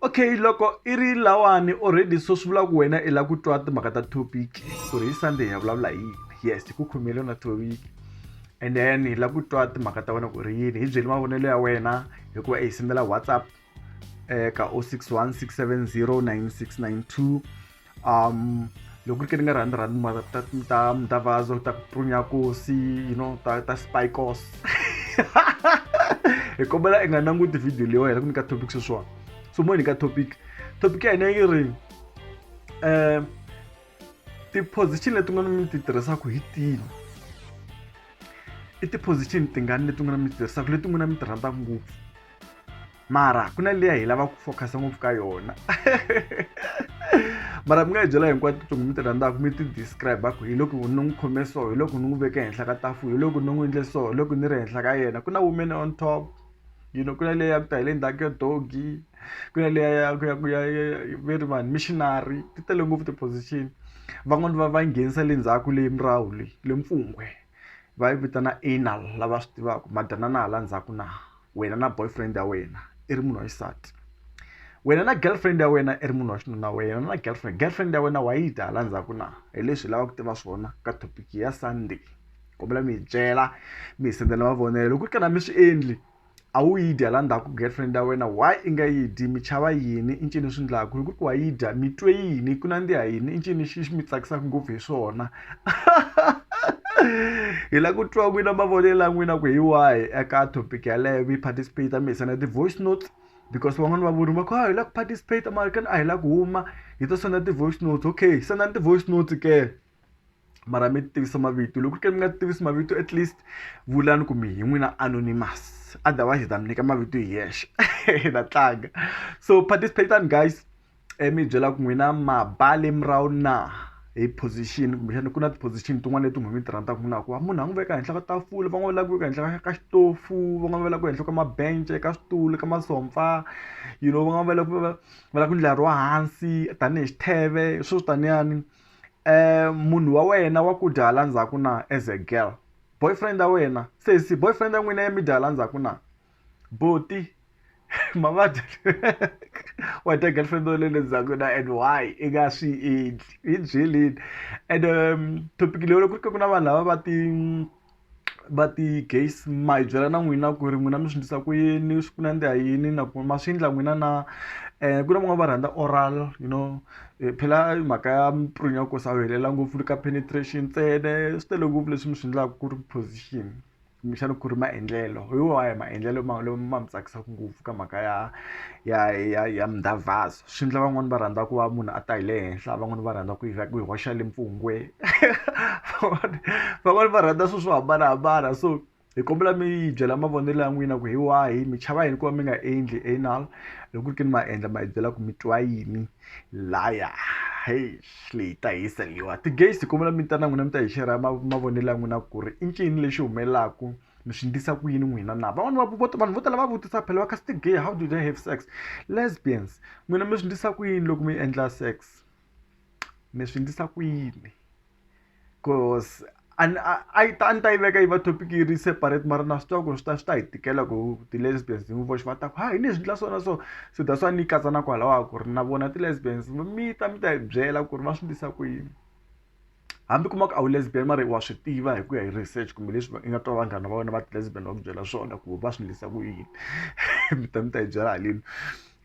okay loko i ri lawani already so swi vula ku wena i la ku twa timhaka ta topic ku ri hi sunday ya vulavula hi yes ku khomile na topic and then hi la ku twa timhaka ta wena ku ri yini hi byeli mavonelo ya wena hikuva hi sendela whatsapp eka 061 670 9692 um loko ri ke ni nga rhandzi rhandzi mara ta ta ta vazo ta prunyakosi you know ta ta spikos hi kombela i nga languti video leyi wa hina ku nyika topic sweswiwani so mo nyika topic topic ya hina yi ri um ti-position leti nga mi ti tirhisaka hi tini i ti-position tingani leti nga mi ti tirhisaka leti n'wina mi ti rhandzaka ngopfu mara ku na leya hi lava ku focus ngopfu ka yona mara mi nga yi byela hinkwato tintsongo mi ti rhandzaka mi ti describe ku hi loko ni n'wi khome so hi loko ni n'wi veke henhla ka tafula hi loko ni n'wi endle so hi loko ni ri henhla ka yena ku na women on top you know ku na leya ku ta hi le ndzhaku ya dogi ku na leya ya ku ya ku ya ve ri vanhu missionary ti tele ngopfu ti-position van'wani va va nghenisa le ndzhaku le murahu le le mpfungwe va yi vitana anal lava swi tivaka madanana hala ndzhaku na. wena na boyfriend ya wena i ri munhu wa xisati wena na girlfriend ya wena i ri munhu wa xinuna wena na girlfriend girlfriend ya wena wa yi dya hala ndzhaku na hi leswi hi lavaka ku tiva swona ka topic ya sunday kombela mi hi byela mi hi sendela mavonelo loko ku ri ka na mi swi endli a wu yi dya la ndzhaku girlfriend ya wena why i nga yi dyi mi chava yini i ncini swi ndlaku loko ku ri ku wa yi dya mi twe yini ku nandziha yini i ncini xi xi mi tsakisaka ngopfu hi swona. hi la ku twa n'wina mavonelo ya n'wina ku hi wahi eka topic yaleyo mi participate mi hisana ti-voice notes because van'wani va vurimi va ku a hi la ku participate mara kani a hi la ku huma hi to senda ti-voice notes okay sendani ti-voice notes ke mara mi tivisa mavito loko ku ri ke mi nga tivisi mavito at least vulani ku mi hi n'wina anonymous otherwise hi ta mi nyika mavito hi yexe hi ta tlanga so participate-ani guys i mi byela ku n'wina ma ba le murahu na hi position kumbexana ku na ti-position tin'wana leti n'wina mi ti rhandzaka na ku va munhu a n'wi veka henhla ka tafula van'wana va lava ku veka henhla ka ka xitofu van'wana va lava ku ehenhla ka mabence ka switulu ka masomfa you know van'wana va lava ku va va lava ku ndlariwa wa hansi tanihi xitheve sweswo taniyani munhu wa wena wa ku dya hala ndzhaku na as a girl boyfriend ya wena sesi boyfriend ya n'wina ya mi dya hala ndzhaku na. buti mavabyi wa ta girlfriend wa le le ndzhaku na and why i nga swi endli hi byeleni and um topic leyi loko ku ri ka ku na vanhu lava va ti va ti gays ma hi byela na n'wina ku ri n'wina mi swi endlisa ku yini swi ku nandziha yini na ku ma swi endla n'wina na ku na van'wani va rhandza oral you know phela mhaka ya ku sa helela ngopfu ka penetration ntsena swi tele ngopfu leswi mi swi endlaku ku ri position. kumbexana ku ri maendlelo hi wahi maendlelo ma ma mi tsakisaka ngopfu ka mhaka ya ya ya ya mdavhazo swi endla van'wani va rhandza ku va munhu a ta hi le henhla van'wani va rhandza ku yi ku yi hoxa le mpfungwe van'wani van'wani va rhandza swi swo hambanahambana so hi kombela mi yi byela mavonelo ya n'wina ku hi wahi mi chava yini ku va mi nga endli anal loko ku ri ke ni ma endla ma hi byela ku mi twa yini. hlaya heyi swi hi ta hisa leyiwa ti-gate kombela mi ta na n'wina mi ta hi share mavonelo ya n'wina ku ri i ncini lexi humelelaku mi swi ndlisa ku yini n'wina na van'wani va vanhu vo tala va vutisa phela va kha ti-gay how do they have sex lesbians n'wina mi swi ndlisa ku yini loko mi endla sex mi swi ndlisa ku yini. cause a ni a a yi ta a ni ta yi veka yi va topic yi ri separate mara na swi tiva ku ri swi ta swi ta hi tikela ku ti-lesbians hi n'wi voxe va ta ku ha hi leswi endla swona so se that's why ni yi katsa na kwalahaya ku ri na vona ti-lesbians mi ta mi ta hi byela ku ri va swi endlisa ku yini hambi u kuma ku a wu lesbian mara wa swi tiva hi ku ya hi research kumbe leswi i nga twa vanghana va wena va ti-lesbian va ku byela swona ku va swi endlisa ku yini mi ta mi ta hi byela haleni.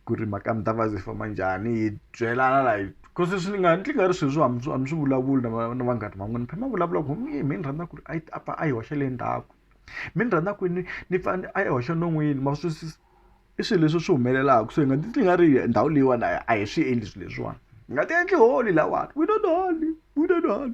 ku ri mhaka ya mdavasi yi famba njhani hi byelana la hi cause leswi ni nga ni tlingari swilo swo a mi a mi swi vulavuli na va na vanghana va n'wina mi phela mi vulavula ku mi mi ni rhandza ku ri a yi a pfa a yi hoxa le ndzhaku mi ni rhandza ku ni ni pfa a yi hoxa non'wini ma swi twisisa i swilo leswi swi humelelaku so hi nga ti twi nga ri ndhawu leyiwani a a hi swi endli swilo leswiwani hi nga ti endli holy lahawani we don't holy we don't holy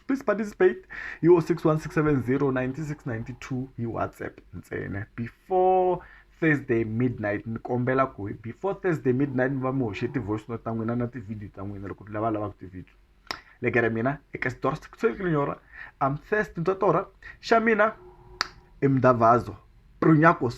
please participate hi wo six one six seven zero ninety six ninety two hi WhatsApp ntsena before. Thursday midnight ni kombela ku before Thursday midnight mi va mi hoxe ti-voice note ta n'wina na ti-video ta n'wina loko lava lavaka ti-video lekere mina eka xitori xikutshelikilenyora am first ntotora xa mina i mdavazo prunyakos